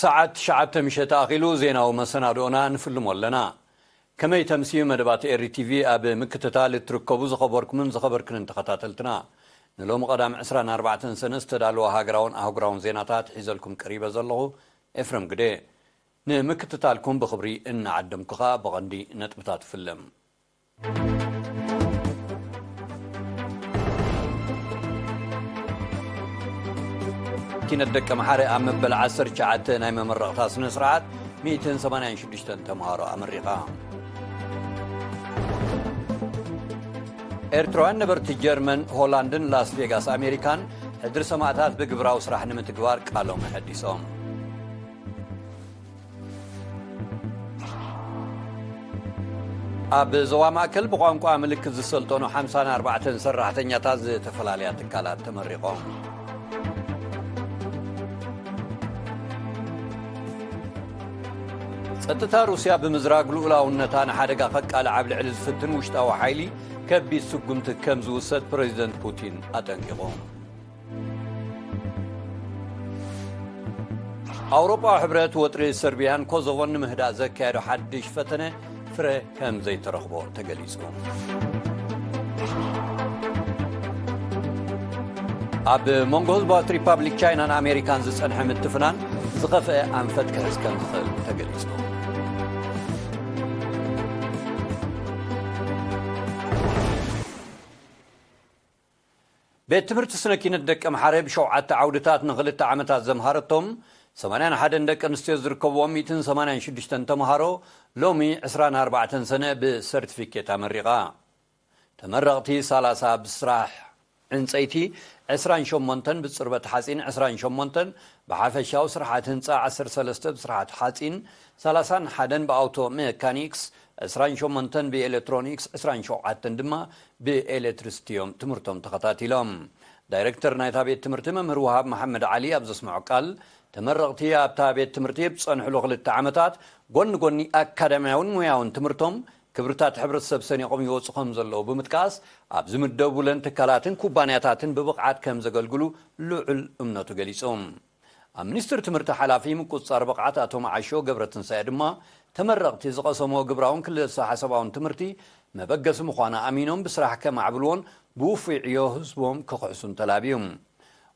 ሰዓት ትሽዓተ ምሸት ኣኺሉ ዜናዊ መሰናድኦና ንፍልሞ ኣለና። ከመይ ተምስዩ መደባት ኤሪ ቲቪ ኣብ ምክትታል እትርከቡ ዝኸበርኩምን ዝኸበርክንን ተኸታተልትና፣ ንሎሚ ቀዳም ዕስራን ኣርባዕተን ሰነ ዝተዳለወ ሃገራውን ኣህጉራውን ዜናታት ሒዘልኩም ቀሪበ ዘለኹ ኤፍረም ግደ። ንምክትታልኩም ብኽብሪ እናዓደምኩ ከኣ ብቐንዲ ነጥብታት እፍልም። ኪነት ደቂ መሓረ ኣብ መበል 19 ናይ መመረቕታ ስነ ስርዓት 186 ተምሃሮ ኣመሪኻ ኤርትራውያን ነበርቲ ጀርመን ሆላንድን ላስ ቬጋስ ኣሜሪካን ሕድሪ ሰማእታት ብግብራዊ ስራሕ ንምትግባር ቃሎም ኣሐዲሶም ኣብ ዞባ ማእከል ብቋንቋ ምልክት ዝሰልጠኑ 54 ሰራሕተኛታት ዝተፈላለያ ትካላት ተመሪቖም ጸጥታ ሩስያ ብምዝራግ ልኡላውነታ ንሓደጋ ከቃልዕ ኣብ ልዕሊ ዝፍትን ውሽጣዊ ሓይሊ ከቢድ ስጉምቲ ከም ዝውሰድ ፕረዚደንት ፑቲን ኣጠንቂቖም ኣውሮጳዊ ሕብረት ወጥሪ ሰርብያን ኮዞቮን ንምህዳእ ዘካየዶ ሓድሽ ፈተነ ፍረ ከም ዘይተረኽቦ ተገሊጹ ኣብ መንጎ ህዝባዊት ሪፓብሊክ ቻይናን ኣሜሪካን ዝጸንሐ ምትፍናን ዝኸፍአ ኣንፈት ክሕዝ ከም ዝኽእል ተገሊጹ ቤት ትምህርቲ ስነ ኪነት ደቀምሓረ ብሸውዓተ ዓውድታት ንኽልተ ዓመታት ዘምሃረቶም ሰማንያን ሓደን ደቂ ኣንስትዮ ዝርከብዎም ሚእትን ሰማንያን ሽዱሽተን ተምሃሮ ሎሚ ዕስራን ኣርባዕተን ሰነ ብሰርቲፊኬት ኣመሪቓ። ተመረቕቲ ሰላሳ ብስራሕ ዕንፀይቲ ዕስራን ሸሞንተን ብፅርበት ሓፂን ዕስራን ሸሞንተን ብሓፈሻዊ ስርሓት ህንፃ ዓሰርተ ሰለስተ ብስርሓት ሓፂን ሰላሳን ሓደን ብኣውቶ ሜካኒክስ ዕስራን ሸሞንተን ብኤሌክትሮኒክስ ዕስራን ሸውዓተን ድማ ብኤሌትሪስቲ'ዮም ትምህርቶም ተኸታቲሎም። ዳይረክተር ናይታ ቤት ትምህርቲ መምህር ወሃብ መሓመድ ዓሊ ኣብ ዘስመዖ ቃል፣ ተመረቕቲ ኣብታ ቤት ትምህርቲ ኣብ ዝጸንሕሉ ክልተ ዓመታት፣ ጎኒ ጎኒ ኣካዳምያውን ሞያውን ትምህርቶም፣ ክብርታት ሕብረተሰብ ሰኒቖም ይወጹ ከም ዘለዉ ብምጥቃስ፣ ኣብ ዝምደቡለን ትካላትን ኩባንያታትን ብብቕዓት ከም ዘገልግሉ ልዑል እምነቱ ገሊጹ። ኣብ ሚኒስትሪ ትምህርቲ ሓላፊ ምቁፅፃር ብቕዓት ኣቶ መዓሾ ገብረትንሳኤ ድማ ተመረቕቲ ዝቐሰምዎ ግብራውን ክልሰሓሳባውን ትምህርቲ መበገሲ ምዃኑ ኣሚኖም ብስራሕ ከማዕብልዎን ብውፉይ ዕዮ ህዝቦም ክኽሕሱን ተላብዩ።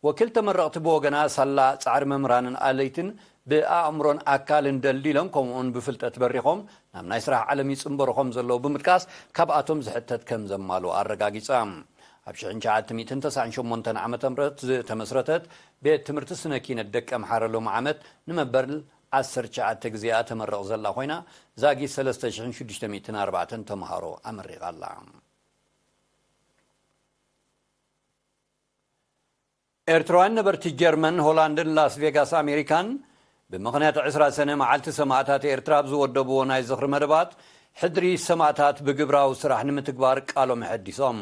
ወኪል ተመረቕቲ ብወገና ሳላ ፃዕሪ መምህራንን ኣለይትን ብኣእምሮን ኣካልን ደልዲሎም ከምኡ እውን ብፍልጠት በሪኾም ናብ ናይ ስራሕ ዓለም ይፅምበሩ ከምዘለዉ ብምጥቃስ ካብኣቶም ዝሕተት ከምዘማልኡ ኣረጋጊፃ። ኣብ ሽሕን ትሽዓተ ሚእትን ተስዓን ሸሞንተን ዓመተ ምህረት ዝተመስረተት ቤት ትምህርቲ ስነ ኪነት ደቀምሓረ ሎሚ ዓመት ንመበል ዓሰርተ ትሽዓተ ግዜኣ ተመርቕ ዘላ ኮይና ዛጊት ሰለስተ ሽሕን ሽዱሽተ ሚእትን ኣርባዕተን ተምሃሮ ኣመሪቓ ኣላ። ኤርትራውያን ነበርቲ ጀርመን፣ ሆላንድን ላስቬጋስ ኣሜሪካን ብምኽንያት ዕስራ ሰነ መዓልቲ ሰማእታት ኤርትራ ኣብ ዝወደብዎ ናይ ዝኽሪ መደባት፣ ሕድሪ ሰማእታት ብግብራዊ ስራሕ ንምትግባር ቃሎም ኣሐዲሶም።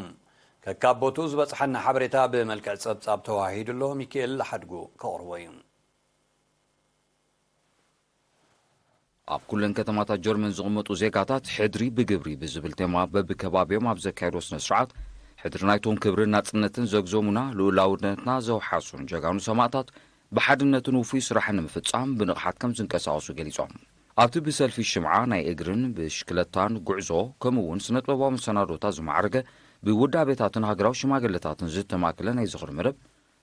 ከካብ ቦትኡ ዝበጽሓና ሓበሬታ ብመልክዕ ጸብጻብ ተወሃሂዱ ኣሎ፣ ሚኪኤል ሓድጉ ከቕርቦ እዩ። ኣብ ኩለን ከተማታት ጀርመን ዝቕመጡ ዜጋታት ሕድሪ ብግብሪ ብዝብል ቴማ በብከባቢኦም ኣብ ዘካየድዎ ስነ ስርዓት ሕድሪ ናይቶም ክብርን ናጽነትን ዘግዘሙና ልኡላውነትና ዘውሓሱን ጀጋኑ ሰማእታት ብሓድነትን ውፉይ ስራሕን ንምፍፃም ብንቕሓት ከምዝንቀሳቐሱ ገሊፆም። ኣብቲ ብሰልፊ ሽምዓ፣ ናይ እግርን ብሽክለታን ጉዕዞ ከምኡ እውን ስነጥበባዊ መሰናዶታት ዝማዕረገ ብውዳቤታትን ሃገራዊ ሽማግለታትን ዝተማእከለ ናይ ዝኽሪ መደብ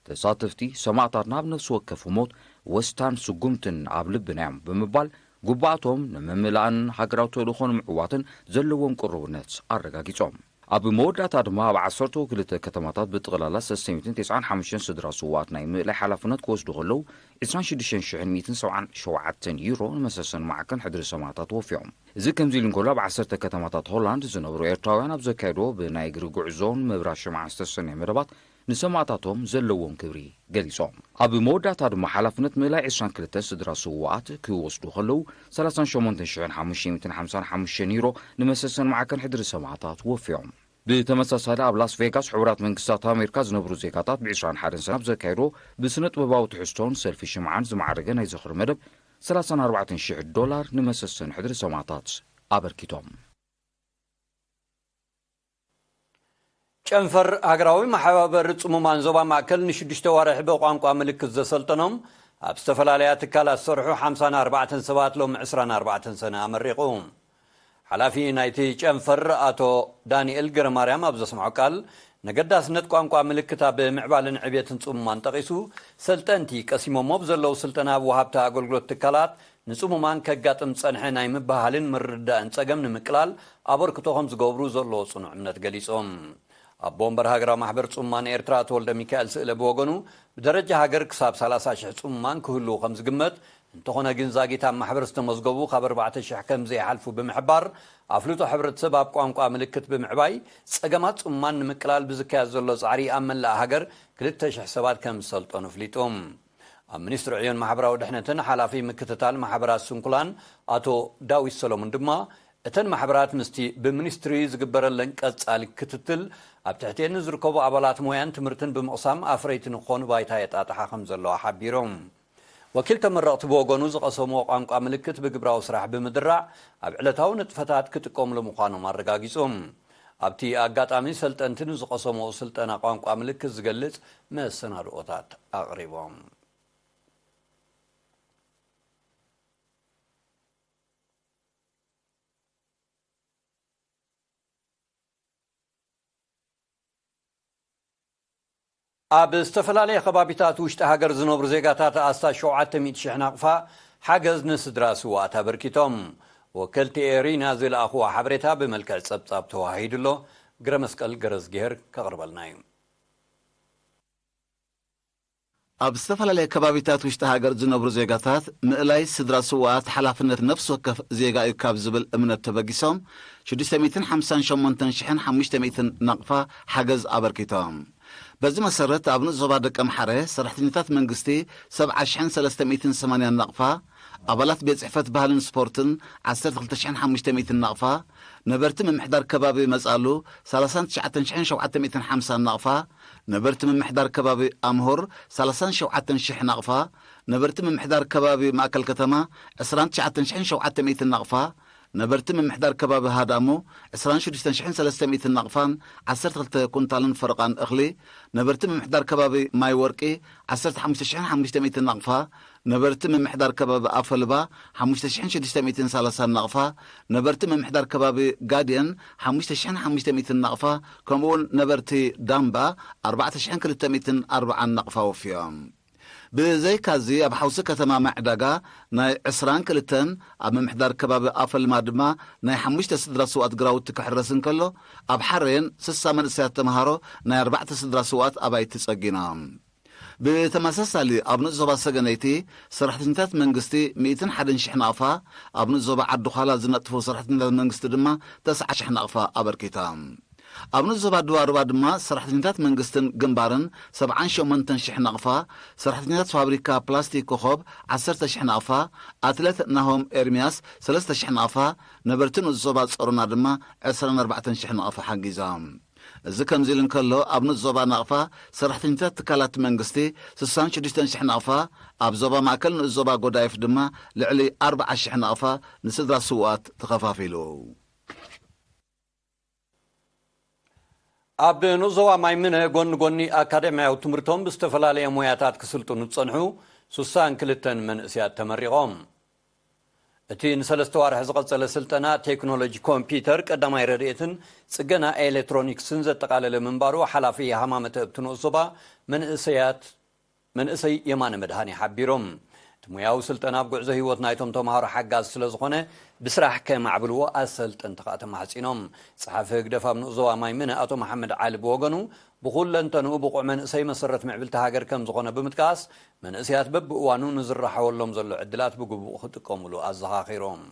ተሳተፍቲ ሰማእታትና ኣብ ነፍሲ ወከፍ ሞት ወስታን ስጉምትን ኣብ ልብና እዮም ብምባል ጉባኣቶም ንምምላእን ሃገራዊ ተልእኾ ንምዕዋትን ዘለዎም ቅሩብነት ኣረጋጊፆም። ኣብ መወዳእታ ድማ ኣብ ዓሰርተው ክልተ ከተማታት ብጥቕላላ ሰሰሚትን ቴስዓን ሓሙሽተን ስድራ ስውኣት ናይ ምእላይ ሓላፍነት ክወስዱ ከለው ዕስራን ሽዱሽተን ሽሕን ሚእትን ሰብዓን ሸውዓተን ዩሮ ንመሰሰኒ ማዕከን ሕድሪ ሰማእታት ወፊዮም። እዚ ከምዚሉ እንከሎ ኣብ ዓሰርተ ከተማታት ሆላንድ ዝነብሩ ኤርትራውያን ኣብ ዘካየድዎ ብናይ እግሪ ጉዕዞን ምብራር ሽምዓ ዝተሰነየ መደባት ንሰማእታቶም ዘለዎም ክብሪ ገሊጾም። ኣብ መወዳእታ ድማ ሓላፍነት ምእላይ ዕስራን ክልተን ስድራ ስዉኣት ክወስዱ ከለዉ፣ ሰላሳን ሸሞንተን ሽሕን ሓሙሽተ ሚእትን ሓምሳን ሓሙሽተን ዩሮ ንመሰሰን ማዕከን ሕድሪ ሰማእታት ወፍዮም። ብተመሳሳሊ ኣብ ላስ ቬጋስ ሕቡራት መንግስታት ኣሜሪካ ዝነብሩ ዜጋታት ብ ዕስራን ሓደን ሰነ ኣብ ዘካየድዎ ብስነ-ጥበባዊ ትሕዝቶን ሰልፊ ሽምዓን ዝማዕረገ ናይ ዝኽሪ መደብ ሰላሳን ኣርባዕተን ሽሕ ዶላር ንመሰሰን ሕድሪ ሰማእታት ኣበርኪቶም። ጨንፈር ሃገራዊ መሓባበሪ ጽሙማን ዞባ ማእከል ንሽዱሽተ ኣዋርሕ ብቋንቋ ምልክት ዘሰልጠኖም ኣብ ዝተፈላለያ ትካላት ዝሰርሑ ሓምሳን ኣርባዕተን ሰባት ሎሚ ዕስራን ኣርባዕተን ሰነ ኣመሪቑ። ሓላፊ ናይቲ ጨንፈር ኣቶ ዳኒኤል ገረማርያም ኣብ ዘስምዖ ቃል፣ ነገዳስነት ቋንቋ ምልክት ኣብ ምዕባለን ዕብየትን ጽሙማን ጠቒሱ፣ ሰልጠንቲ ቀሲሞሞ ብዘለዉ ስልጠና ኣብ ወሃብቲ ኣገልግሎት ትካላት ንጽሙማን ከጋጥም ዝጸንሐ ናይ ምብህሃልን ምርድዳእን ጸገም ንምቅላል ኣበርክቶ ከም ዝገብሩ ዘለዎ ጽኑዕ እምነት ገሊጾም። ኣቦ ወንበር ሃገራዊ ማሕበር ጽሙማን ኤርትራ ኣቶ ወልደሚካኤል ስእለ ብወገኑ፣ ብደረጃ ሃገር ክሳብ ሰላሳ ሽሕ ጽሙማን ክህልዉ ከም ዝግመት፣ እንተኾነ ግን ዛጊት ኣብ ማሕበር ዝተመዝገቡ ካብ ኣርባዕተ ሽሕ ከም ዘይሓልፉ ብምሕባር፣ ኣፍልጦ ሕብረተሰብ ኣብ ቋንቋ ምልክት ብምዕባይ ጸገማት ጽሙማን ንምቅላል ብዝካየድ ዘሎ ጻዕሪ ኣብ መላእ ሃገር ክልተ ሽሕ ሰባት ከም ዝሰልጠኑ ኣፍሊጡ። ኣብ ሚኒስትሪ ዕዮን ማሕበራዊ ድሕነትን ሓላፊ ምክትታል ማሕበራት ስንኩላን ኣቶ ዳዊት ሰለሙን ድማ እተን ማሕበራት ምስቲ ብሚኒስትሪ ዝግበረለን ቀፃሊ ክትትል ኣብ ትሕቲኤን ንዝርከቡ ኣባላት ሞያን ትምህርትን ብምቕሳም ኣፍረይቲ ንክኾኑ ባይታ የጣጥሓ ከምዘለዋ ሓቢሮም። ወኪል ተመረቕቲ ብወገኑ ዝቐሰምዎ ቋንቋ ምልክት ብግብራዊ ስራሕ ብምድራዕ ኣብ ዕለታዊ ንጥፈታት ክጥቀምሉ ምዃኖም ኣረጋጊፁ። ኣብቲ ኣጋጣሚ ሰልጠንቲ ንዝቐሰምዎ ስልጠና ቋንቋ ምልክት ዝገልፅ መሰናድኦታት ኣቕሪቦም። ኣብ ዝተፈላለየ ከባቢታት ውሽጢ ሃገር ዝነብሩ ዜጋታት ኣስታት ሸውዓተ ሚእቲ ሽሕ ናቕፋ ሓገዝ ንስድራ ስውኣት ኣበርኪቶም። ወከልቲ ኤሪና ዝልኣኽዎ ሓበሬታ ብመልክዕ ጸብጻብ ተወሃሂዱ ኣሎ። ግረመስቀል ገረዝግሄር ከቕርበልና እዩ። ኣብ ዝተፈላለየ ከባቢታት ውሽጢ ሃገር ዝነብሩ ዜጋታት ምእላይ ስድራ ስዉኣት ሓላፍነት ነፍሲ ወከፍ ዜጋ እዩ ካብ ዝብል እምነት ተበጊሶም ሽዱሽተ ሚእትን ሓምሳን ሸሞንተን ሽሕን ሓሙሽተ ሚእትን ናቕፋ ሓገዝ ኣበርኪቶም። በዚ መሰረት ኣብ ንኡስ ዞባ ደቀምሓረ ሰራሕተኛታት መንግስቲ ሰብዓ ሽሕን ሰለስተ ሚእትን ሰማንያን ናቕፋ፣ ኣባላት ቤት ፅሕፈት ባህልን ስፖርትን ዓሰርተ ክልተ ሽሕን ሓሙሽተ ሚእትን ናቕፋ፣ ነበርቲ ምምሕዳር ከባቢ መፃሉ ሰላሳን ትሽዓተን ሽሕን ሸውዓተ ሚእትን ሓምሳን ናቕፋ፣ ነበርቲ ምምሕዳር ከባቢ ኣምሆር ሰላሳን ሸውዓተን ሽሕ ናቕፋ፣ ነበርቲ ምምሕዳር ከባቢ ማእከል ከተማ ዕስራን ትሽዓተን ሽሕን ሸውዓተ ሚእትን ናቕፋ፣ ነበርቲ ምምሕዳር ከባቢ ሃዳሞ ዕስራን ሽዱሽተን ሽሕን ሰለስተ ሚእትን ናቕፋን ዓሰርተ ክልተ ኩንታልን ፈረቓን እኽሊ፣ ነበርቲ ምምሕዳር ከባቢ ማይ ወርቂ ዓሰርተ ሓሙሽተ ሽሕን ሓሙሽተ ሚእትን ናቕፋ፣ ነበርቲ ምምሕዳር ከባቢ ኣፈልባ ሓሙሽተ ሽሕን ሽዱሽተ ሚእትን ሰላሳን ናቕፋ፣ ነበርቲ ምምሕዳር ከባቢ ጋዴን ሓሙሽተ ሽሕን ሓሙሽተ ሚእትን ናቕፋ ከምኡ'ውን ነበርቲ ዳምባ ኣርባዕተ ሽሕን ክልተ ሚእትን ኣርብዓን ናቕፋ ወፍዮም። ብዘይካ'ዚ ኣብ ሓውሲ ከተማ ማይዕዳጋ ናይ ዕስራን ክልተን፣ ኣብ ምምሕዳር ከባቢ ኣፈልማ ድማ ናይ ሓሙሽተ ስድራ ስውኣት ግራውቲ ክሕረስ እንከሎ፣ ኣብ ሓሬን ስሳ መንእሰያት ተመሃሮ ናይ ኣርባዕተ ስድራ ስውኣት ኣባይቲ ጸጊኖም። ብተመሳሳሊ ኣብ ንኡስ ዞባ ሰገነይቲ ሰራሕተኛታት መንግስቲ ሚእትን ሓደን ሽሕ ናቕፋ፣ ኣብ ንኡስ ዞባ ዓዲ-ዃላ ዝነጥፉ ሰራሕተኛታት መንግስቲ ድማ ተስዓን ሽሕ ናቕፋ ኣበርኪታ። ኣብ ንኡስ ዞባ ድባርባ ድማ ሰራሕተኛታት መንግስትን ግንባርን ሰብዓን ሸሞንተን ሽሕ ናቕፋ፣ ሰራሕተኛታት ፋብሪካ ፕላስቲክ ኮኾብ ዓሰርተ ሽሕ ናቕፋ፣ ኣትለት ናሆም ኤርምያስ ሰለስተ ሽሕ ናቕፋ፣ ነበርቲ ንኡስ ዞባ ጸሮና ድማ ዕስራን ኣርባዕተን ሽሕ ናቕፋ ሓጊዛ። እዚ ከምዚ ኢሉ እንከሎ፣ ኣብ ንኡስ ዞባ ናቕፋ፣ ሰራሕተኛታት ትካላት መንግስቲ ስሳን ሽዱሽተን ሽሕ ናቕፋ፣ ኣብ ዞባ ማእከል ንኡስ ዞባ ጎዳይፍ ድማ ልዕሊ ኣርብዓ ሽሕ ናቕፋ ንስድራ ስውኣት ተኸፋፊሉ። ኣብ ንኡስ ዞባ ማይምነ ጎኒ ጎኒ ኣካዳሚያዊ ትምህርቶም ብዝተፈላለየ ሞያታት ክስልጥኑ ዝጸንሑ ስሳን ክልተን መንእሲያት ተመሪቖም። እቲ ንሰለስተ ኣዋርሕ ዝቐጸለ ስልጠና፣ ቴክኖሎጂ ኮምፒዩተር፣ ቀዳማይ ረድኤትን ጽገና ኤሌትሮኒክስን ዘጠቓለለ ምንባሩ ሓላፊ ሃማመተ እብቲ ንኡስ ዞባ መንእሰያት መንእሰይ የማነ መድሃኔ ሓቢሮም። እቲ ሞያዊ ስልጠና ኣብ ጉዕዞ ህይወት ናይቶም ተማሃሮ ሓጋዚ ስለዝኾነ ብስራሕ ከማዕብልዎ ኣሰልጠንቲ ከኣ ተማሕጺኖም። ጸሓፊ ህግደፍ ኣብ ንኡስ ዞባ ማይምነ ኣቶ መሓመድ ዓሊ ብወገኑ ብኹለንተንኡ ብቑዕ መንእሰይ መሰረት ምዕብልቲ ሃገር ከምዝኾነ ብምጥቃስ መንእሰያት በብእዋኑ ንዝረሓወሎም ዘሎ ዕድላት ብግቡእ ክጥቀሙሉ ኣዘኻኺሮም።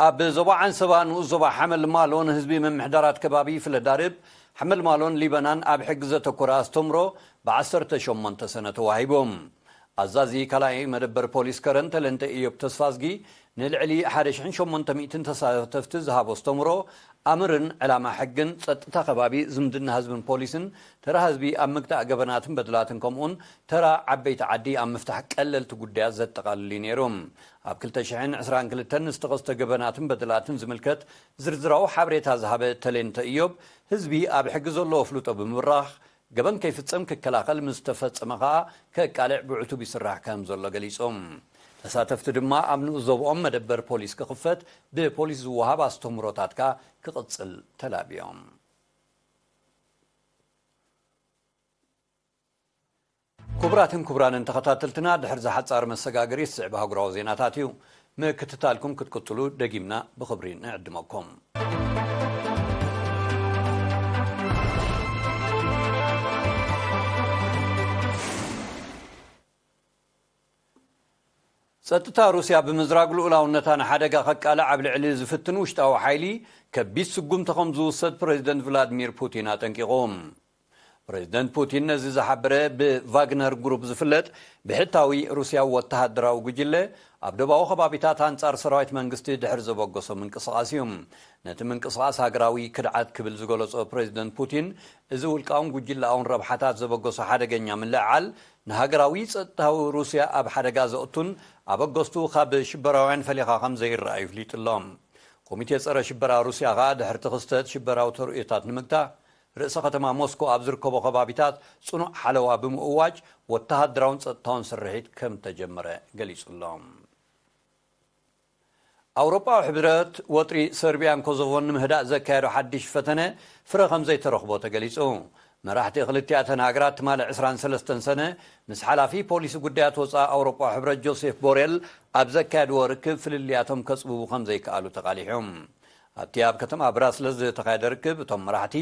ኣብ ዞባ ዓንሰባ ንኡስ ዞባ ሓመልማሎ ንህዝቢ ምምሕዳራት ከባቢ ፍለዳርብ፣ ሓመልማሎን ሊበናን ኣብ ሕጊ ዘተኮረ ኣስተምሮ ብ ዓሰርተ ሸሞንተ ሰነ ተዋሂቦም። ኣዛዚ ካልኣይ መደበር ፖሊስ ከረን ተለንተ እዮብ ተስፋዝጊ ንልዕሊ ሓደ ሽሕን ሸሞንተ ሚእትን ተሳተፍቲ ዝሃቦ ኣስተምህሮ ኣምርን ዕላማ ሕግን ፀጥታ ከባቢ ዝምድና ህዝብን ፖሊስን ተራ ህዝቢ ኣብ ምግታእ ገበናትን በደላትን ከምኡውን ተራ ዓበይቲ ዓዲ ኣብ ምፍታሕ ቀለልቲ ጉዳያት ዘጠቓልል እዩ ነይሩ። ኣብ ክልተ ሽሕን ዕስራን ክልተን ንዝተኸስተ ገበናትን በደላትን ዝምልከት ዝርዝራዊ ሓበሬታ ዝሃበ ተሌንተ እዮብ ህዝቢ ኣብ ሕጊ ዘለዎ ኣፍልጦ ብምብራኽ ገበን ከይፍፀም ክከላኸል ምስ ዝተፈፀመ ከዓ ከቃልዕ ብዕቱብ ይስራሕ ከምዘሎ ገሊፆም። ተሳተፍቲ ድማ ኣብ ንኡስ ዞብኦም መደበር ፖሊስ ክኽፈት ብፖሊስ ዝወሃብ ኣስተምህሮታት ከዓ ክቕፅል ተላብዮም። ኩቡራትን ኩቡራንን ተኸታተልትና ድሕሪ እዚ ሓፃር መሰጋገሪ ዝስዕብ ኣህጉራዊ ዜናታት እዩ ምክትታልኩም ክትቅጽሉ ደጊምና ብኽብሪ ንዕድመኩም። ጸጥታ ሩስያ ብምዝራግ ልኡላውነታ ንሓደጋ ከቃልዕ ኣብ ልዕሊ ዝፍትን ውሽጣዊ ሓይሊ ከቢድ ስጉምቲ ከም ዝውሰድ ፕረዚደንት ቭላድሚር ፑቲን ኣጠንቂቑ። ፕረዚደንት ፑቲን ነዚ ዝሓበረ ብቫግነር ግሩፕ ዝፍለጥ ብሕታዊ ሩስያዊ ወተሃደራዊ ጉጅለ ኣብ ዶባዊ ከባቢታት ኣንጻር ሰራዊት መንግስቲ ድሕሪ ዘበገሶ ምንቅስቓስ እዩ። ነቲ ምንቅስቓስ ሃገራዊ ክድዓት ክብል ዝገለጾ ፕረዚደንት ፑቲን እዚ ውልቃውን ጉጅለኣውን ረብሓታት ዘበገሶ ሓደገኛ ምልዕዓል ንሃገራዊ ጸጥታዊ ሩስያ ኣብ ሓደጋ ዘእቱን ኣበገስቱ ካብ ሽበራውያን ፈሊኻ ከም ዘይረኣ ይፍሊጥ'ሎ። ኮሚቴ ጸረ ሽበራ ሩስያ ከኣ ድሕሪ'ቲ ክስተት ሽበራዊ ተርእዮታት ንምግታእ ርእሰ ከተማ ሞስኮ ኣብ ዝርከቦ ከባቢታት ጽኑዕ ሓለዋ ብምእዋጅ ወተሃደራውን ጸጥታውን ስርሒት ከም እተጀመረ ገሊጹ ኣሎ። ኣውሮጳዊ ሕብረት፣ ወጥሪ ሰርብያን ኮዞቮን ንምህዳእ ዘካየዶ ሓድሽ ፈተነ ፍረ ከም ዘይተረኽቦ ተገሊጹ። መራሕቲ ክልቲኣተን ሃገራት ትማሊ ዕስራን ሰለስተን ሰነ ምስ ሓላፊ ፖሊሲ ጉዳያት ወጻኢ ኣውሮጳዊ ሕብረት ጆሴፍ ቦሬል ኣብ ዘካየድዎ ርክብ ፍልልያቶም ከጽብቡ ከም ዘይከኣሉ ተቓሊሑ። ኣብቲ ኣብ ከተማ ብራስለስ ዝተኻየደ ርክብ እቶም መራሕቲ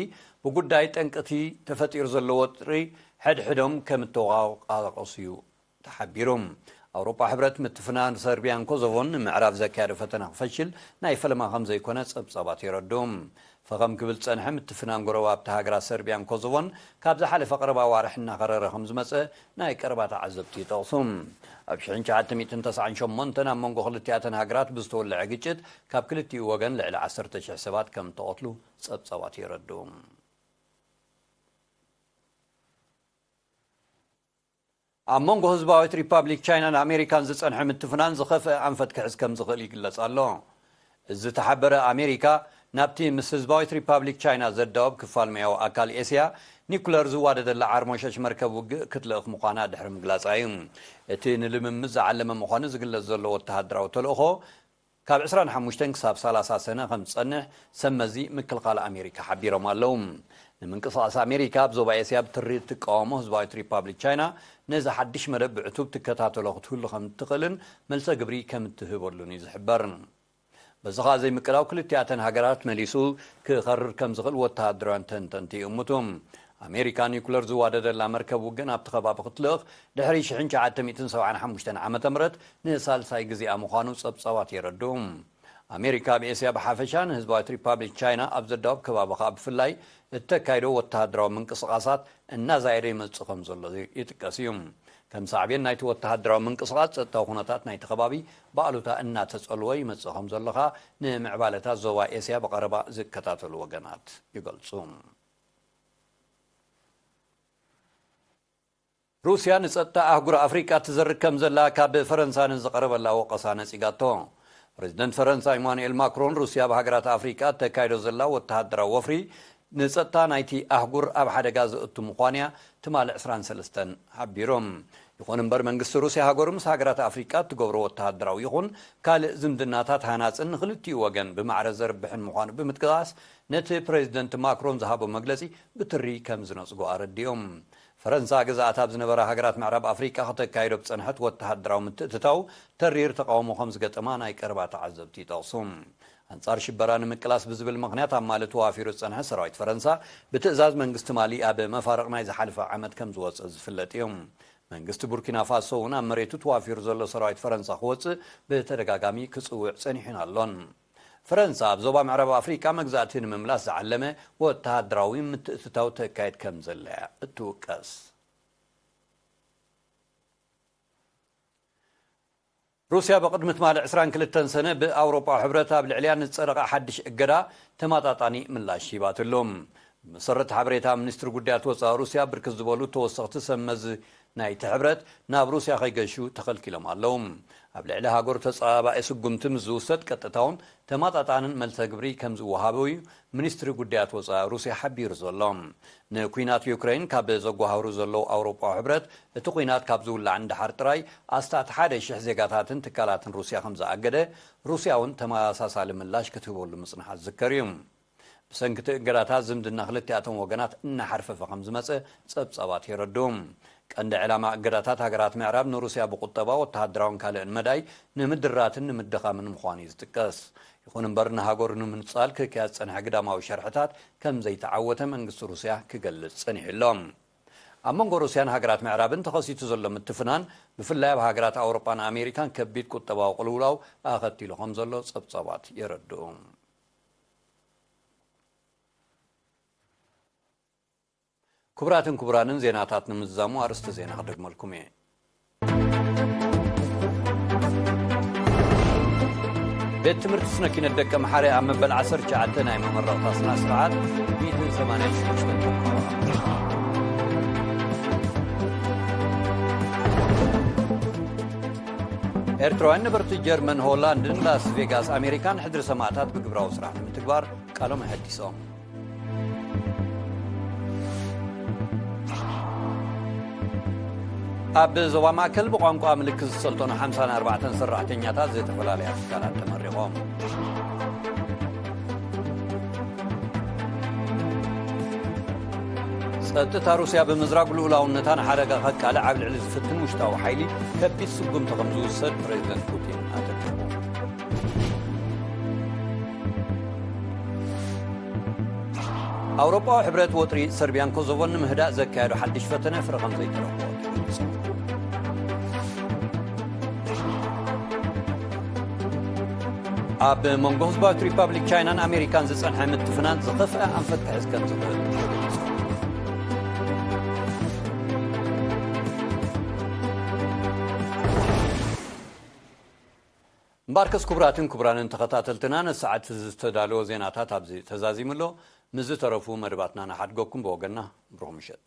ብጉዳይ ጠንቂ'ቲ ተፈጢሩ ዘሎ ወጥሪ ሕድሕዶም ከም እተወቓቐሱ'ዩ ተሓቢሩ። ኣውሮጳ ሕብረት ምትፍናን ሰርቢያን ኮዞቮን ንምዕራፍ ዘካየዶ ፈተነ ክፈሽል ናይ ፈለማ ከም ዘይኮነ ጸብጻባት የረድኡ። ፈኸም ክብል ዝጸንሐ ምትፍናን ጎረባብቲ ሃገራት ሰርቢያን ኮዞቮን ካብ ዝሓለፈ ቀረባ ኣዋርሕ እናኸረረ ከም ዝመጸ ናይ ቀረባ ተዓዘብቲ ይጠቕሱ። ኣብ ሽሕን ትሽዓተ ሚእትን ተስዓን ሸሞንተን ኣብ መንጎ ክልቲኣተን ሃገራት ብዝተወለዐ ግጭት ካብ ክልቲኡ ወገን ልዕሊ ዓሰርተ ሽሕ ሰባት ከም እተቐትሉ ጸብጻባት የረድኡ። ኣብ መንጎ ህዝባዊት ሪፓብሊክ ቻይናን ኣሜሪካን ዝጸንሐ ምትፍናን ዝኸፍኣ ኣንፈት ክሕዝ ከም ዝኽእል ይግለጽ ኣሎ። ዝተሓበረ ኣሜሪካ ናብቲ ምስ ህዝባዊት ሪፓብሊክ ቻይና ዘዳውብ ክፋል ሜያዊ ኣካል ኤስያ ኒኩለር ዝዋደደላ ዓርሞሸሽ መርከብ ውግእ ክትልእኽ ምዃና ድሕሪ ምግላጻ እዩ እቲ ንልምምድ ዝዓለመ ምዃኑ ዝግለጽ ዘሎ ወተሃደራዊ ተልእኾ ካብ ዕስራን ሓሙሽተን ክሳብ ሰላሳ ሰነ ከም ዝጸንሕ ሰብ መዚ ምክልኻል ኣሜሪካ ሓቢሮም ኣለዉ። ንምንቅስቓስ ኣሜሪካ ኣብ ዞባ ኤስያ ብትሪ እትቃወሞ ህዝባዊት ሪፓብሊክ ቻይና ነዚ ሓድሽ መደብ ብዕቱብ ትከታተሎ ክትህሉ ከም እትኽእልን መልሰ ግብሪ ከም እትህበሉን እዩ ዝሕበር። በዚ ኸኣ ዘይምቅዳው ክልቲኣተን ሃገራት መሊሱ ክኸርር ከም ዝኽእል ወተሃደራውያን ተንተንቲ ይእምቱ። ኣሜሪካ ኒዩክለር ዝዋደደላ መርከብ ውግእ ናብቲ ከባቢ ክትልእኽ ድሕሪ ሽሕን ትሽዓተ ሚእትን ሰብዓን ሓሙሽተን ዓመተ ምህረት ንሳልሳይ ግዜኣ ምዃኑ ጸብጻባት የረድኡ። ኣሜሪካ ኣብ ኤስያ ብሓፈሻ ንህዝባዊት ሪፓብሊክ ቻይና ኣብ ዘዳውብ ከባቢ ከኣ ብፍላይ እተካይዶ ወተሃደራዊ ምንቅስቓሳት እናዛየደ ይመጽእ ከም ዘሎ ይጥቀስ እዩ። ከም ሳዕቤን ናይቲ ወተሃደራዊ ምንቅስቓስ ጸጥታዊ ኩነታት ናይቲ ከባቢ ብኣሉታ እናተጸልወ ይመጽእ ከም ዘሎ ከኣ ንምዕባለታት ዞባ ኤስያ ብቐረባ ዝከታተሉ ወገናት ይገልጹ። ሩስያ ንጸጥታ ኣህጉር ኣፍሪቃ ትዘርግ ከምዘላ ካብ ፈረንሳ ንዝቐረበላ ወቐሳ ነጺጋቶ። ፕረዚደንት ፈረንሳ ኢማኑኤል ማክሮን ሩስያ ኣብ ሃገራት ኣፍሪቃ እተካይዶ ዘላ ወተሃደራዊ ወፍሪ ንጸጥታ ናይቲ ኣህጉር ኣብ ሓደጋ ዘእቱ ምዃኑ'ያ ትማሊ ዕስራን ሰለስተን ሓቢሩ። ይኹን እምበር መንግስቲ ሩስያ ሃገሩ ምስ ሃገራት ኣፍሪቃ እትገብሮ ወተሃደራዊ ይኹን ካልእ ዝምድናታት ሃናጽን ንኽልቲኡ ወገን ብማዕረ ዘርብሕን ምዃኑ ብምጥቃስ ነቲ ፕረዚደንት ማክሮን ዝሃቦ መግለጺ ብትሪ ከምዝነጽጎ ኣረዲኡ። ፈረንሳ ግዝኣታ ኣብ ዝነበራ ሃገራት ምዕራብ ኣፍሪቃ ከተካይዶ ኣብ ዝጸንሐት ወተሃደራዊ ምትእትታው ተሪር ተቓውሞ ከም ዝገጠማ ናይ ቀረባ ተዓዘብቲ ይጠቕሱ። ኣንጻር ሽበራ ንምቅላስ ብዝብል ምኽንያት ኣብ ማሊ ተዋፊሩ ዝጸንሐ ሰራዊት ፈረንሳ ብትእዛዝ መንግስቲ ማሊ ኣብ መፋርቕ ናይ ዝሓለፈ ዓመት ከም ዝወጸ ዝፍለጥ እዩ። መንግስቲ ቡርኪናፋሶ'ውን ኣብ መሬቱ ተዋፊሩ ዘሎ ሰራዊት ፈረንሳ ክወጽእ ብተደጋጋሚ ክጽውዕ ጸኒሑን ኣሎን። ፈረንሳ ኣብ ዞባ ምዕራብ ኣፍሪቃ መግዛእቲ ንምምላስ ዝዓለመ ወተሃደራዊ ምትእትታው ተካይድ ከምዘላ'ያ እትውቀስ። ሩስያ ብቕድሚ ትማሊ ዕስራን ክልተን ሰነ ብኣውሮጳዊ ሕብረት ኣብ ልዕሊኣ ንዝጸደቐ ሓድሽ እገዳ ተመጣጣኒ ምላሽ ሂባትሉ። ብመሰረት ሓበሬታ ሚኒስትሪ ጉዳያት ወጻኢ ሩስያ፣ ብርክት ዝበሉ ተወሰኽቲ ሰብ መዚ ናይቲ ሕብረት ናብ ሩስያ ከይገሹ ተኸልኪሎም ኣለዉ። ኣብ ልዕሊ ሃገሩ ተጸባባኢ ስጉምቲ ምስ ዝውሰድ ቀጥታውን ተማጣጣንን መልሰ ግብሪ ከም ዝወሃብ'ዩ ሚኒስትሪ ጉዳያት ወጻኢ ሩስያ ሓቢሩ ዘሎ። ንኲናት ዩክረይን ካብ ዘጓሃህሩ ዘለዉ ኣውሮጳዊ ሕብረት እቲ ኲናት ካብ ዝውላዕ ንደሓር ጥራይ ኣስታት ሓደ ሽሕ ዜጋታትን ትካላትን ሩስያ ከም ዝኣገደ ሩስያ'ውን ተመሳሳሊ ምላሽ ክትህበሉ ምጽንሓ ዝዝከር'ዩ። ብሰንኪ እቲ እገዳታት ዝምድና ክልቲኣቶም ወገናት እናሓርፈፈ ከም ዝመጸ ጸብጻባት የረድኡ። ቀንዲ ዕላማ እገዳታት ሃገራት ምዕራብ ንሩስያ ብቁጠባ፣ ወተሃደራውን ካልእን መዳይ ንምድራትን ንምድኻምን ምዃኑ እዩ ዝጥቀስ። ይኹን እምበር ንሃገሩ ንምንጻል ክካየድ ዝጸንሐ ግዳማዊ ሸርሕታት ከም ዘይተዓወተ መንግስቲ ሩስያ ክገልጽ ጸኒሑ ኣሎ። ኣብ መንጎ ሩስያን ሃገራት ምዕራብን ተኸሲቱ ዘሎ ምትፍናን ብፍላይ ኣብ ሃገራት ኣውሮጳን ኣሜሪካን ከቢድ ቁጠባዊ ቅልውላው ኣኸቲሉ ከም ዘሎ ጸብጻባት የረድኡ። ክቡራትን ክቡራንን ዜናታት ንምዝዛሙ ኣርእስቲ ዜና ክደግመልኩም እየ። ቤት ትምህርቲ ስነ ኪነት ደቂ መሓረ ኣብ መበል 19 ናይ መመረቕታ ስና ስርዓት 186 ኤርትራውያን ነበርቲ ጀርመን ሆላንድን ላስ ቬጋስ ኣሜሪካን ሕድሪ ሰማእታት ብግብራዊ ስራሕ ንምትግባር ቃሎም ኣሐዲሶም ኣብ ዞባ ማእከል ብቋንቋ ምልክት ዝሰልጠኑ 54 ሰራሕተኛታት ዝተፈላለያ ትካላት ተመሪቖም ጸጥታ ሩስያ ብምዝራግ ልኡላውነታ ንሓደጋ ከቃልዕ ኣብ ልዕሊ ዝፍትን ውሽጣዊ ሓይሊ ከቢድ ስጉምቲ ከም ዝውሰድ ፕሬዚደንት ፑቲን ኣጠንቀቑ። ኣውሮፓዊ ሕብረት ወጥሪ ሰርቢያን ኮሶቮን ንምህዳእ ዘካየዱ ሓድሽ ፈተነ ፍረ ከም ዘይተረኽቦ ኣብ መንጎ ህዝባዊት ሪፓብሊክ ቻይናን ኣሜሪካን ዝፀንሐ ምትፍናን ዝኸፍአ ኣንፈት ክሕዝ ከም ዝኽእል እምበርከስ ክቡራትን ክቡራንን ተኸታተልትና ንሰዓት ዝተዳለወ ዜናታት ኣብዚ ተዛዚሙ ኣሎ ምስ ዝተረፉ መደባትና ንሓድገኩም ብወገና ብሩኽ ምሸት